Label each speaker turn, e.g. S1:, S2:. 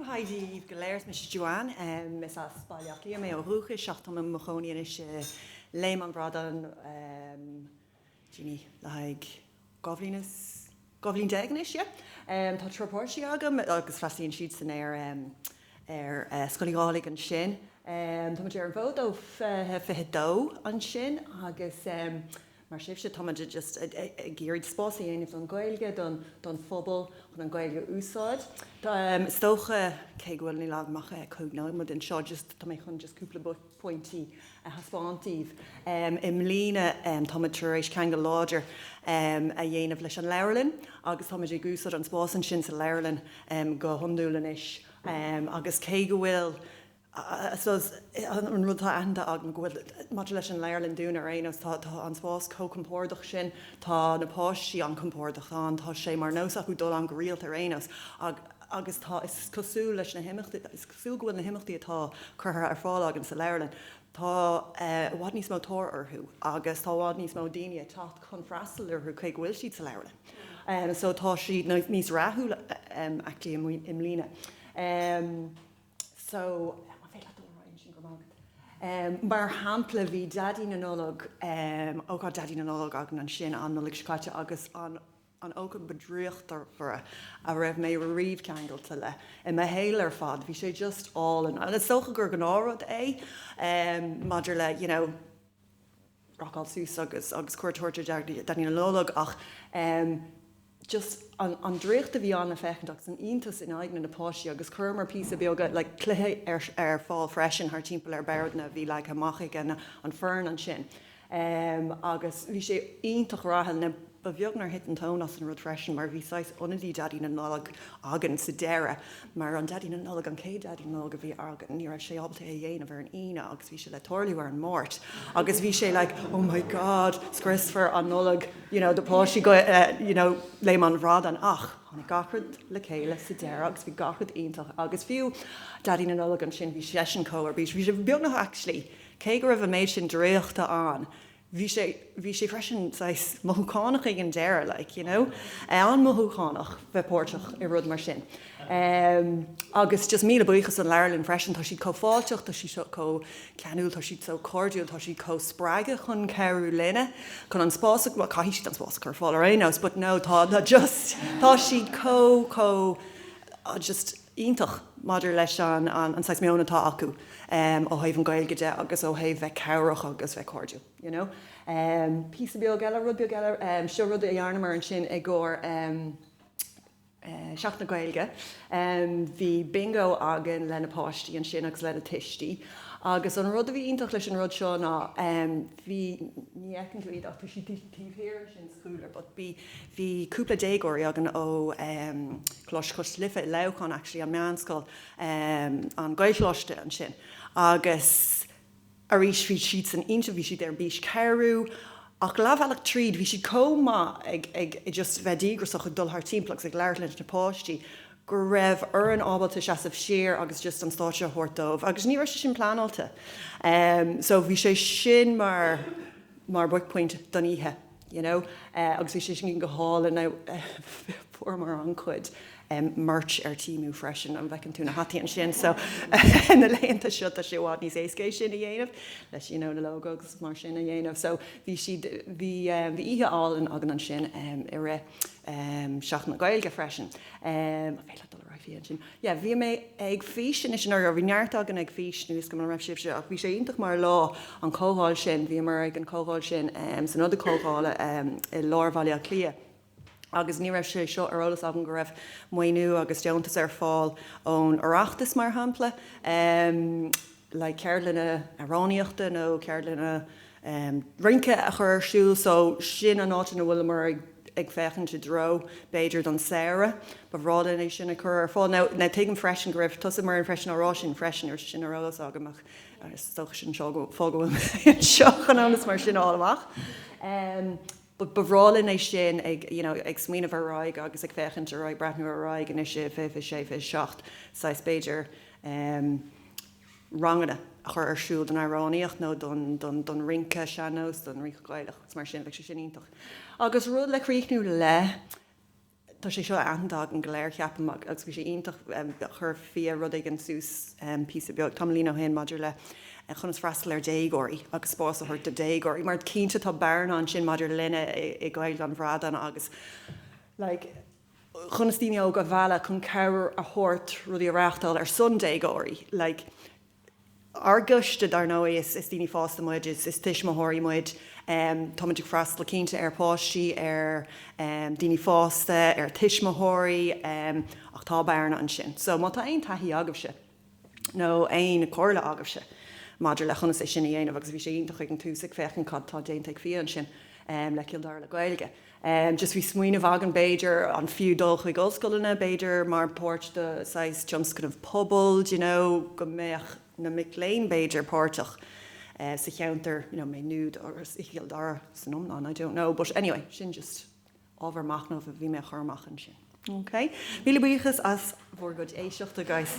S1: Haigh daoibh go léir, mise Joanne. Is as Baile Átha Cliath mé ó dhúchas ach táim i mo chónaí anois i Léim an Bhradáin em le haghaidh dhá bhliain is dhá bhliain déag anois, yeah. Tá triúr páistí agam agus freastalaíonn siadsan ar Scoil Uí Dhálaigh ansin. Tá muid ar an bhfód ó fiche fiche dó ansin agus Mar sibhse, tá muid just ag iarraidh spás a dhéanamh don Ghaeilge, don phobal, chun an Ghaeilge a úsáid. Is dócha, cé go bhfuil, níl agam ach cúig nóiméad anseo, just, tá mé chun just cúpla pointí a thaispeáint daoibh. I mbliana, tá muid tar éis ceangal láidir a dhéanamh leis an leabharlann agus tá muid ag úsáid an spás ansin sa leabharlann go hiondúil anois agus cé go bhfuil, I suppose, an rud atá aitheanta agam go bhfuil, maidir leis an leabharlann dúinn ar aon nós, tá an spás chomh compordach sin, tá na páistí an-chompordach, tá an, tá sé mar nós acu dul ann go rialta ar aon nós agus tá, is cosúil leis na himeachtaí, is cosúil go bhfuil na himeachtaí atá curtha ar fáil againn sa leabharlann, tá i bhfad níos mó tóir orthu agus tá i bhfad níos mó daoine ag teacht chun freastal orthu toisc go bhfuil siad sa leabharlann so tá siad níos rathúla actually i mbliana. so, an féidir leat dul ar aghaidh ansin, go raibh maith agat. Mar shampla, bhí Daidí na Nollag, ócáid Daidí na Nollag againn ansin an Nollaig seo caite agus an an ócáid ba draíochtmhaire a raibh mé riamh ceangailte le i mo shaol ar fad, bhí sé just álainn. Is dócha gur gnáthrud é maidir le, you know, rocáil suas agus agus cuairt a thabhairt ar Dhaidí Dhaidí na Nollag ach em just an an draíocht a bhí ann le féachaint agus an iontas in aghaidh na na páistí agus chuireamar píosaí beaga like cluiche ar ar fáil freisin thar timpeall ar boardanna a bhí leagtha amach ag an an foireann ansin em agus bhí sé iontach rathúil now Ba bheag nár thit an tóin as an rud freisin mar bhí saghas ionadaí Dhaidí na Nollag againn sa deireadh mar an Daidí na Nollag, an chéad Daidí na Nollag a bhí againn, ní raibh sé ábalta é a dhéanamh ar an Aoine agus bhí sé le tarlú ar an Máirt agus bhí sé like oh my God, scriosfar an Nollaig you know do pháistí go you know Léim an Bhradáin ach tháinig gach rud le chéile sa deireadh agus bhí gach rud iontach agus fiú Daidí na Nollag ansin bhí seisean chomh ar bís, bhí sé beagnach actually cé go raibh an méid sin draíochta ann, bhí sé, bhí sé freisin saghas mothúchánach ag an deireadh like, you know, an-mhothúchánach bheith páirteach i rud mar sin. Em, agus just míle buíochas don leabharlann freisin, tá siad chomh fáilteach, tá siad chomh ceanúil, tá siad so cairdiúil, tá siad chomh spreagtha chun cabhrú linne, chun an spás a chur, caithfidh siad an spás a chur ar fáil ar aon nós but no tá just tá siad chomh, chomh, just. iontach maidir leis an saghas meoin atá acu ó thaobh an Gaeilge de agus ó thaobh bheith cabhrach agus bheith cairdiúil you know. Píosa beag eile, rud beag eile, seo rud a dhearnamar ansin i gcomhair Seachtain na Gaeilge, bhí Bingo againn le na páistí ansin agus le na tuistí agus an rud a bhí iontach leis an rud seo ná bhí, ní fheiceann tú iad ach tá siad taobh thiar ansin sa chúlra but bhí, Bhí cúpla déagóirí againn ó em. Coláiste Chois Life i Leamhcán actually, an meánscoil em. an Gaelcholáiste ansin agus arís bhí siadsan iontach, bhí siad ar bís cabhrú ach leathbhealach tríd bhí siad chomh maith ag, ag just bheith díograiseach ag dul thar timpeall agus ag labhairt leis na páistí go rabhamar ábalta seasamh siar agus just an stáitse a thabhairt dóibh agus ní raibh sé sin pleanáilte em. So bhí sé sin mar, mar buaicphointe don oíche. you know, agus bhí sé sin go hálainn. Fuaireamar an-chuid merch ar Temu freisin, an bhfeiceann tú na hataí ansin? So, na laethanta seo tá sé i bhfad níos éasca é sin a dhéanamh, leis you know na logos agus mar sin a dhéanamh. So bhí siad, bhí, bhí oíche álainn againn ansin i rith Seachtain na Gaeilge freisin. An féidir leat dul ar aghaidh, Fia, ansin? yeah bhí mé ag Fís Anois or bhí neart againn ag Fís Anois, tuigim go raibh sibhse ach bhí sé iontach mar lá an comhdháil sin bhíomar ag an comhdháil sin em san ionad comhdhála em i lár Bhaile Átha Cliath agus ní raibh sé seo ar eolas againn go raibh maoiniú agus deontas ar fáil ón Oireachtas mar shampla em like ceardlanna amhránaíochta nó ceardlanna rince a chur ar siúl so sin an áit ina bhfuileamar ag féachaint i dtreo b'fhéidir don samhradh, ba bhreá linn é sin a chur ar fáil. Now, now tuigim freisin go raibh tusa Marian freisin á rá sin freisin, ar sin ar eolas agam ach is dócha sin fáth go bhfuilim anseo chun eolas mar sin a fháil amach. But ba bhreá linn é sin, ag, you know, ag smaoineamh ar aghaidh agus ag féachaint ar aghaidh, breathnú ar aghaidh anois i 2026, 27, saghas, b'fhéidir, em, ranganna a chur ar siúl don amhránaíocht nó don, don, don rince sean-nóis, don rince Gaelach agus mar sin, bheadh sé sin iontach. Agus rud le críochnú le. Tá sé seo aitheanta againn go léir, ceapaim, agus bhí sé iontach, chuir Fia rud éigin suas píosa beag tamaillín ó shin maidir le conas freastal ar dhéagóirí agus spás a thabhairt do dhéagóirí, mar cinnte tá bearna ansin maidir linne i nGaeilge an Bhradáin agus like conas daoine óga a mhealladh chun cabhair a thabhairt rudaí a reáchtáil ar son déagóirí like. Ár gcoiste, dar ndóigh, is daoine fásta muid, is tuismitheoirí muid. Tá muid ag freastal cinnte ar pháistí, ar daoine fásta, ar tuismitheoirí, ach tá bearna ansin. So, má tá aon taithí agaibhse, nó aon chomhairle agaibhse maidir le conas é sin a dhéanamh, agus bhí sé iontach ag an tús ag féachaint cad atá déanta ag Fia ansin le Cill Dara le Gaeilge, Just bhí smaoineamh againn, b'fhéidir, an fiú dul chuig ollscoileanna, b'fhéidir, mar páirt de saghas tionscnamh pobail, d'you know, go mbeadh na mic léinn, b'fhéidir, páirteach sa cheantar, you know, Maigh Nuad agus i gCill Dara san iomlán, I don't know, but anyway, sin just ábhar machnaimh a bhí mé a chur amach ansin. OK, míle buíochas as bhur gcuid éisteachta, guys.